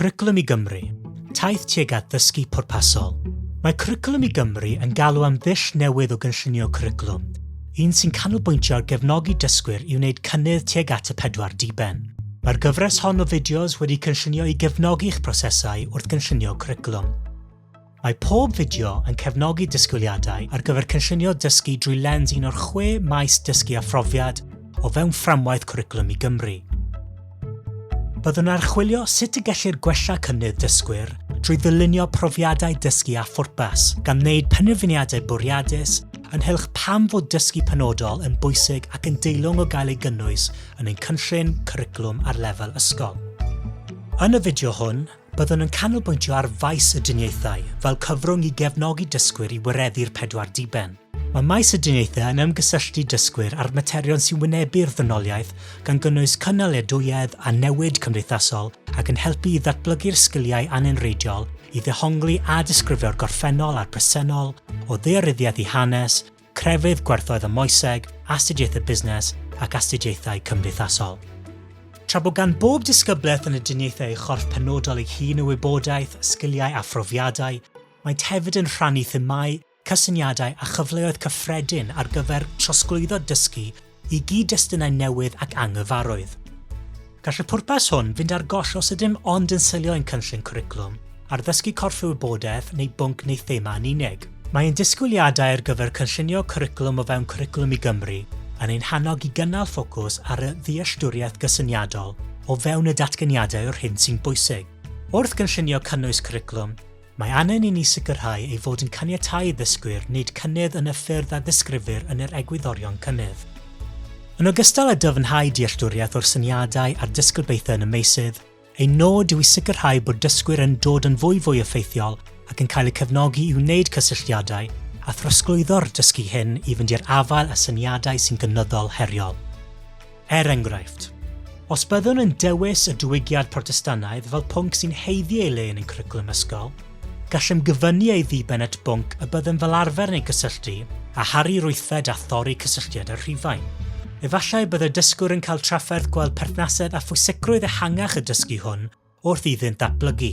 Cwricwlwm i Gymru, taith tuag at ddysgu pwrpasol. Mae Cwricwlwm i Gymru yn galw am ddull newydd o gynllunio cwricwlwm, un sy'n canolbwyntio ar gefnogi dysgwyr i wneud cynnydd tuag at y pedwar diben. Mae'r gyfres hon o fideos wedi cynllunio i gefnogi eich prosesau wrth gynllunio cwricwlwm. Mae pob fideo yn cefnogi disgwyliadau ar gyfer cynllunio dysgu drwy lens un o'r chwe maes dysgu a phrofiad o fewn Fframwaith Cwricwlwm i Gymru. Byddwn yn archwilio sut y gellir gwella cynnydd dysgwyr drwy ddylunio profiadau dysgu â phwrpas, gan wneud penderfyniadau bwriadus ynghylch pam fod dysgu penodol yn bwysig ac yn deilwng o gael ei gynnwys yn ein cynllun cwricwlwm ar lefel ysgol. Yn y fideo hwn, Byddwn yn canolbwyntio ar faes y diniaethau fel cyfrwng i gefnogi dysgwyr i wireddu'r pedwar diben. Mae maes y diniaethau yn ymgysylltu dysgwyr â'r materion sy'n wynebu'r ddynoliaeth, gan gynnwys cynaliadwyedd a newid cymdeithasol ac yn helpu i ddatblygu'r sgiliau anenreidiol i ddehongli a disgrifio'r gorffennol a'r presennol, o ddaearyddiaeth i hanes, crefydd gwerthoedd y moeseg, astudiaethau busnes ac astudiaethau cymdeithasol. Tra bod gan bob disgyblaeth yn y diniaethau ei chorff penodol ei hun o wybodaeth, sgiliau a phrofiadau, maent hefyd yn rhannu themâu, cysyniadau a chyfleoedd cyffredin ar gyfer trosglwyddo dysgu i gyd-destunau newydd ac anghyfarwydd. Gall y pwrpas hwn fynd ar goll os ydym ond yn selio ein cynllun cwricwlwm ar ddysgu corff y wybodaeth neu bwnc neu thema yn unig. Mae ein disgwyliadau ar gyfer cynllunio cwricwlwm o fewn Cwricwlwm i Gymru yn ein hannog i gynnal ffocws ar y ddealltwriaeth gysyniadol o fewn y datganiadau o'r hyn sy'n bwysig. Wrth gynllunio cynnwys cwricwlwm, Mae angen i ni sicrhau ei fod yn caniatáu i ddysgwyr wneud cynnydd yn y ffyrdd a ddisgrifir yn yr egwyddorion cynnydd. Yn ogystal â dyfnhau dealltwriaeth o'r syniadau a'r disgribaethau yn y meysydd, ein nod yw i sicrhau bod dysgwyr yn dod yn fwyfwy effeithiol ac yn cael eu cefnogi i wneud cysylltiadau a throsglwyddo'r dysgu hyn i fynd i'r afael â syniadau sy'n gynyddol heriol. Er enghraifft, os byddwn yn dewis y diwygiad Protestannaidd fel pwnc sy'n haeddu ei le yn ein cwricwlwm ysgol, gallem gyfyngu ei ddiben at bwnc y byddem fel arfer yn ei gysylltu â Harri Rwyfed a thorri cysylltiad â Rhufain. Efallai y bydd y dysgwr yn cael trafferth gweld perthnasedd a phwysicrwydd ehangach y dysgu hwn wrth iddynt ddatblygu.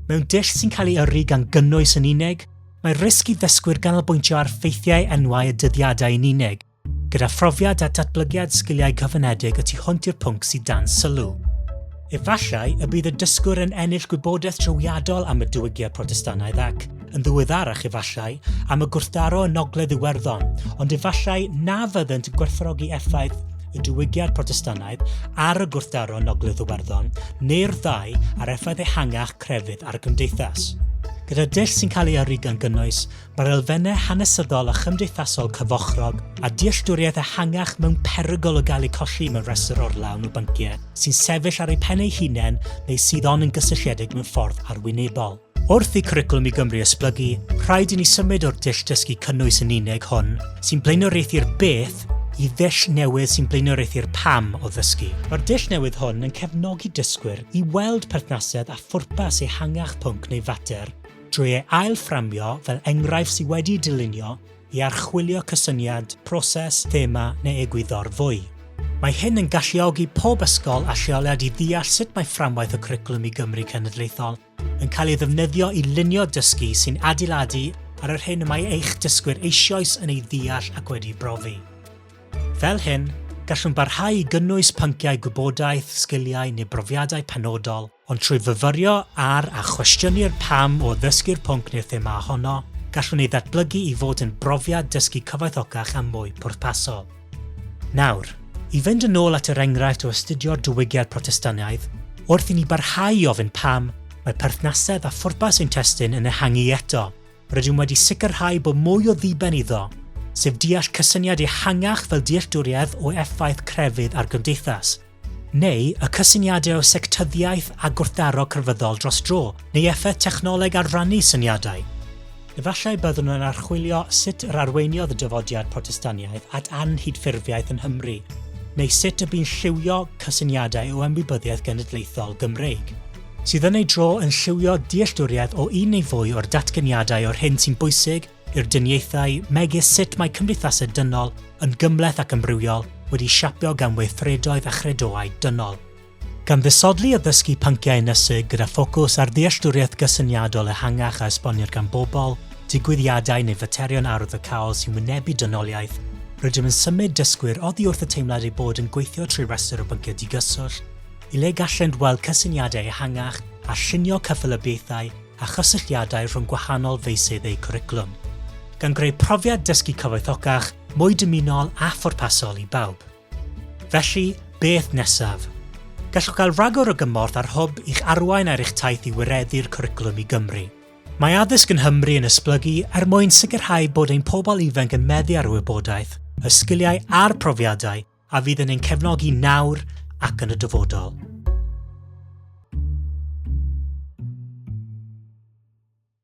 Mewn dull sy'n cael ei yrru gan gynnwys yn unig, mae risg i ddysgwyr ganolbwyntio ar ffeithiau enwau y dyddiadau yn unig, Gyda phrofiad a datblygiad sgiliau cyfyngedig y tu hwnt i'r pwnc sydd dan sylw. Efallai y bydd y dysgwr yn ennill gwybodaeth drawiadol am y diwygiad Protestannaidd ac, yn ddiweddarach efallai, am y gwrthdaro yn Ogledd Iwerddon, ond efallai na fyddent yn gwerthfawrogi effaith y diwygiad Protestannaidd ar y gwrthdaro yn Ogledd Iwerddon, neu'r ddau ar effaith ehangach crefydd ar y cymdeithas. Gyda dull sy'n cael ei yrru gan gynnwys Mae'r elfennau hanesyddol a chymdeithasol cyfochrog a dealltwriaeth ehangach mewn perygl o gael eu colli mewn rhestr orlawn o bynciau sy'n sefyll ar eu pen eu hunain neu sydd ond yn gysylltiedig mewn ffordd arwynebol. Wrth i Cwricwlwm i Gymru esblygu, rhaid i ni symud o'r dull dysgu cynnwys yn unig hwn sy'n blaenoriaethu'r beth i ddull newydd sy'n blaenoriaethu'r pam o ddysgu. Mae'r dull newydd hwn yn cefnogi dysgwyr i weld perthnasedd a phwrpas ehangach pwnc neu fater drwy ei ail-fframio fel enghraifft sydd wedi'i dylunio i archwilio cysyniad, proses, thema neu egwyddor fwy. Mae hyn yn galluogi pob ysgol a lleoliad i ddeall sut mae fframwaith y Cwricwlwm i Gymru Cenedlaethol yn cael ei ddefnyddio i lunio dysgu sy'n adeiladu ar yr hyn y mae eich dysgwyr eisioes yn ei ddeall ac wedi'i brofi. Fel hyn, gallwn barhau i gynnwys pynciau gwybodaeth, sgiliau neu brofiadau penodol Ond trwy fyfyrio ar a chwestiynu'r pam o ddysgu'r pwnc neu'r thema ohono, gallwn ei ddatblygu i fod yn brofiad dysgu cyfoethocach a mwy pwrpasol. Nawr, i fynd yn ôl at yr enghraifft o astudio'r diwygiad Protestaniaeth, wrth i ni barhau i ofyn pam, mae perthnasedd a phwrpas ein testun yn ehangu eto. Rydym wedi sicrhau bod mwy o ddiben iddo, sef deall cysyniad ehangach fel dealltwriaeth o effaith crefydd ar gymdeithas. neu y cysyniadau o sectyddiaeth a gwrthdaro crefyddol dros dro, neu effaith technoleg ar rannu syniadau. Efallai byddwn yn archwilio sut yr arweiniodd y dyfodiad Protestaniaeth at anghydffurfiaeth yn Nghymru, neu sut y bu'n lliwio cysyniadau o ymwybyddiaeth genedlaethol Gymreig, sydd yn ei dro yn lliwio dealltwriaeth o un neu fwy o'r datganiadau o'r hyn sy'n bwysig, i'r diniaethau megis sut mae cymdeithasau dynol yn gymhleth ac ymrywiol wedi siapio gan weithredoedd a chredoau dynol. Gan ddisodli a dysgu pynciau ynysig gyda ffocws ar ddealltwriaeth gysyniadol ehangach a esbonir gan bobl, digwyddiadau neu faterion arwyddocaol sy'n wynebu dynoliaeth, rydym yn symud dysgwyr oddi wrth y teimlad eu bod yn gweithio trwy restr o bynciau digyswllt, i le gallent weld cysyniadau ehangach a llunio cyffelybiaethau a chysylltiadau rhwng gwahanol feysydd eu cwricwlwm, gan greu profiad dysgu cyfoethocach, mwy dymunol a phwrpasol i bawb. Felly, beth nesaf? Gallwch gael rhagor o gymorth a'r Hwb i'ch arwain ar eich taith i wireddu'r cwricwlwm i Gymru. Mae addysg yn Nghymru yn esblygu er mwyn sicrhau bod ein pobl ifanc yn meddu ar y wybodaeth, y sgiliau a'r profiadau a fydd yn ein cefnogi nawr ac yn y dyfodol.